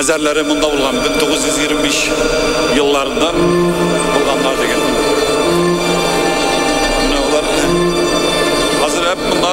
Мәзәрләре монда булган 1925 елларында булганнар дигән. Менә алар хәзер монда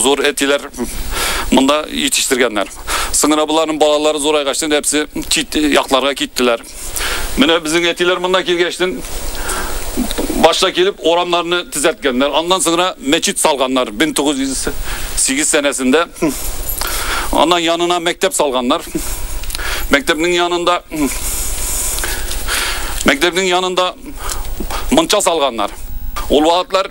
Зур әтиләр монда җитештергәннәр. Соңра боларның балалары зурайгачтын әпсе кит якларга киттеләр. Менә безнең әтиләр монда килгәчтен башта килеп урамнарны төзәткәннәр. Аннан соңра мәчет салганнар 1908 сәнәсендә. Аннан янына мәктәп салганнар. Мәктәпнең янында мәктәпнең янында мунча салганнар. Ул вакытлар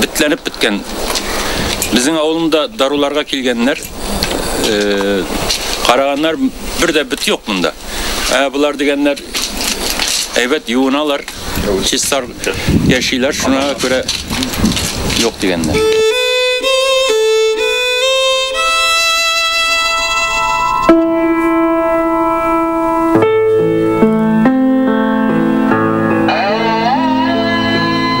битләнеп беткән. Безнең авылында даруларга килгәннәр, э, караганнар, бер дә бит юк монда. Ә болар дигәннәр әйбәт юыналар, чистар яшиләр, шуңа күрә юк дигәннәр.